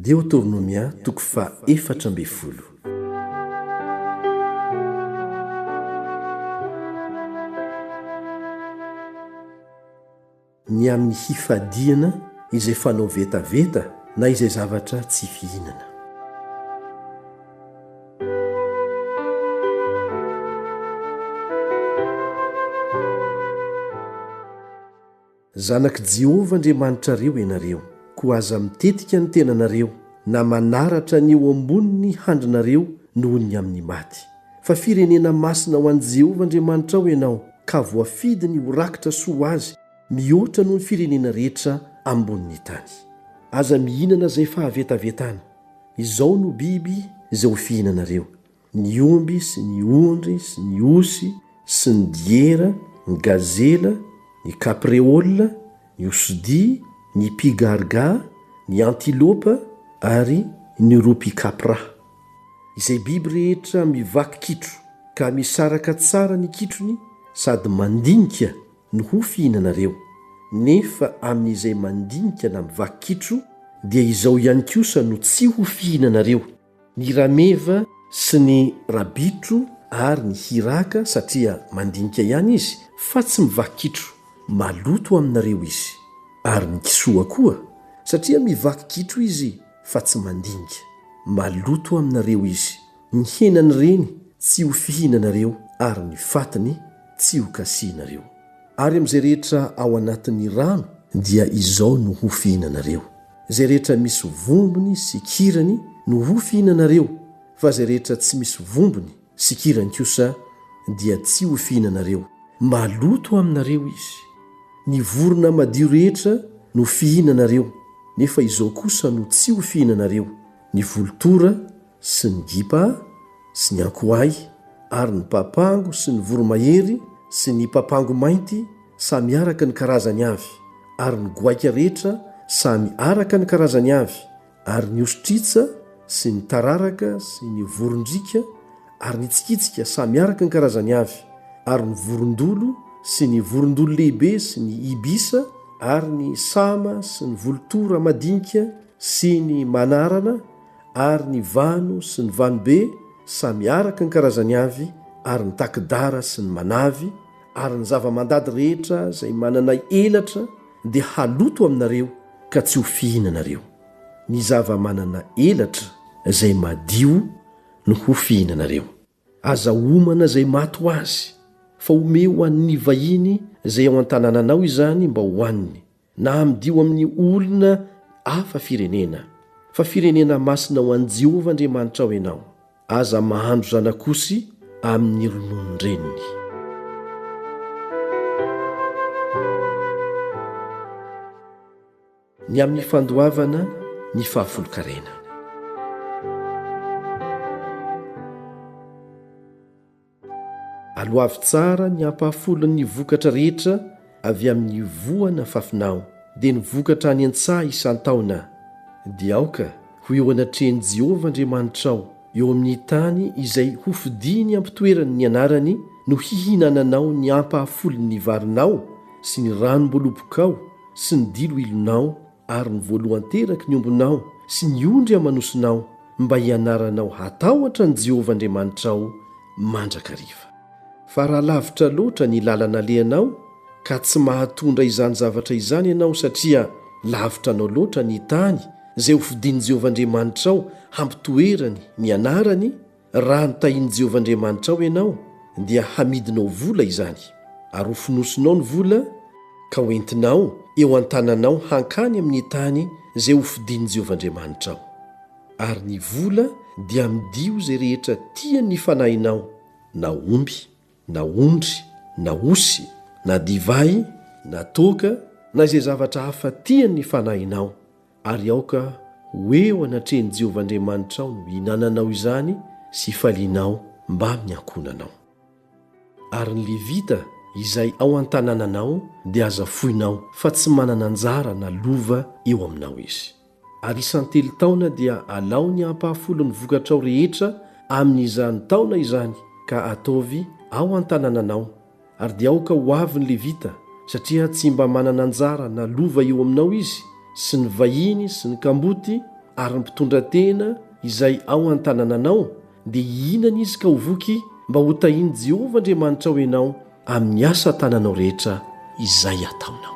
Deotornomia toko faha efatra ambin'ny folo. Ny amin'ny hifadiana izay fanao vetaveta na izay zavatra tsy fihinana. Zanak'i Jehovah Andriamanitrareo ianareo, koa aza mitetika ny tenanareo, na manaratra ny eo ambonin'ny handrinareo noho ny amin'ny maty. Fa firenena masina ho an'i Jehovah Andriamanitrao ianao, ka voafidiny ho rakitra soa ho azy mihoatra noho ny firenena rehetra ambonin'ny tany. Aza mihinana izay fahavetavetana. Izao no biby izay ho fihinanareo, ny omby sy ny ondry sy ny osy sy ny diera, ny gazela, ny kapreola, ny osidia, ny pigarga, ny antilopa ary ny ropy kapra. Izay biby rehetra mivaky kitro ka misaraka tsara ny kitrony sady mandinika no ho fihinanareo, nefa amin'izay mandinika na mivaky kitro dia izao ihany kosa no tsy ho fihinanareo, Ny rameva sy ny rabitro ary ny hiraka satria mandinika ihany izy fa tsy mivaky kitro, maloto aminareo izy. Ary ny kisoa koa satria mivaky kitro izy fa tsy mandinika, maloto aminareo izy. Ny henan'ireny tsy ho fihinanareo ary ny fatiny tsy ho kasihinareo. Ary amin'izay rehetra ao anatin'ny rano dia izao no ho fihinanareo, izay rehetra misy vombony sy kirany no ho fihinanareo, fa izay rehetra tsy misy vombony sy kirany kosa dia tsy ho fihinanareo, maloto aminareo izy. Ny vorona madio rehetra no fihinanareo, nefa izao kosa no tsy ho fihinanareo, ny volotora, sy ny gipa sy ny ankoay, ary ny papango sy ny voromahery sy ny papango mainty samy araka ny karazany avy, ary ny goaika rehetra samy araka ny karazany avy, ary ny ostritsa sy ny tararaka sy ny vorondriaka ary ny tsikitsika samy araka ny karazany avy, ary ny vorondolo sy ny vorondolo lehibe sy ny ibisa ary ny sama sy ny volotora madinika sy ny manarana, ary ny vano sy ny vanobe samy araka ny karazany avy, ary ny taki-dara sy ny manavy, ary ny zava-mandady rehetra izay manana elatra dia haloto aminareo ka tsy ho fihinanareo. Ny zava-manana elatra izay madio no ho fihinanareo. Aza homana izay maty ho azy, fa omeo ho an'ny vahiny izay ao an-tanànanao izany mba hohaniny, na amidio amin'ny olona hafa firenena, fa firenena masina ho an'i Jehovah Andriamanitrao ianao. Aza mahandro zanak'osy amin'ny rononon-dreniny. Ny amin'ny fandoavana ny fahafolon-karena. Aloavy tsara ny ampahafolon'ny vokatra rehetra avy amin'ny voana fafinao, dia ny vokatra any an-tsaha isan-taona, dia aoka ho eo anatrehan'i Jehovah Andriamanitrao, eo amin'ny tany izay hofidiny am-pitoerany ny anarany, no hihinananao ny ampahafolon'ny varinao sy ny ranom-bolobokao, sy ny diloilonao ary ny voalohan-teraky ny ombinao sy ny ondry aman'osinao, mba hianaranao hatahotra an'i Jehovah Andriamanitrao mandrakariva. Fa raha lavitra loatra ny lalana alehanao, ka tsy mahatondra izany zavatra izany ianao satria lavitra anao loatra ny tany izay hofidin'i Jehovah Andriamanitrao hampitoerany ny anarany, Raha notahin'i Jehovah Andriamanitrao ianao, dia hamidinao vola izany, ary hofonosinao ny vola ka hoentinao eo an-tananao hankany amin'ny tany izay hofidian'i Jehovah Andriamanitrao. Ary ny vola dia amidio izay rehetra tian'ny fanahinao, na omby, na ondry, na osy, na divay, na toaka, na izay zavatra hafa tian'ny fanahinao, Ary aoka ho eo anatrehan'i Jehovah Andriamanitrao no ihinananao izany sy ifalianao mbamin'ny ankohonanao. Ary ny Levita izay ao an-tanànanao dia aza foinao, fa tsy manana anjara na lova eo aminao izy. Ary isan-telo taona dia alao ny ampahafolon'ny vokatrao rehetra amin'izany taona izany ka ataovy ao an-tanànanao, Ary dia aoka ho avy ny Levita, satria tsy mba manana anjara na lova eo aminao izy, sy ny vahiny, sy ny kamboty, ary ny mpitondra tena izay ao an-tanànanao, dia hihinana izy ka ho voky, mba hotahin'i Jehovah Andriamanitrao ianao amin'ny asa tananao rehetra izay ataonao.